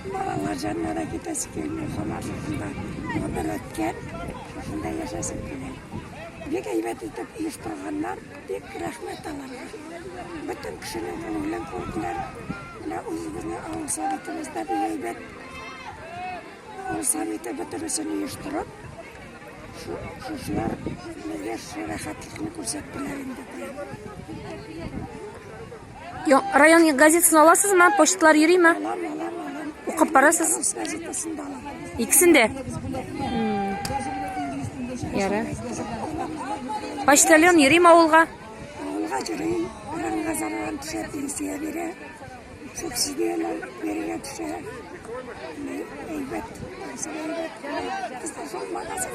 Балалар җанына да китәсе килми, Самарлыкында гомер үткән, шушында яшәсем килә. Бик әйбәт итеп еш кылганнар, бик рәхмәт аларга. Бөтен кешенең күңелен күрделәр. Менә үзебезнең авыл советыбыз да бик әйбәт. Авыл советы бөтенесен оештырып, шушылар безгә шул рәхәтлекне күрсәттеләр инде. Район газетасын аласыз ма? Почталар йөри ма? Укып барасыз? Икесен дә? Яра. Почтальон йөри ма авылга? Авылга йөри. Районга зарардан төшә, пенсия бирә. Субсидияләр бирергә төшә. Әйбәт. Әйбәт. Кызлар магазин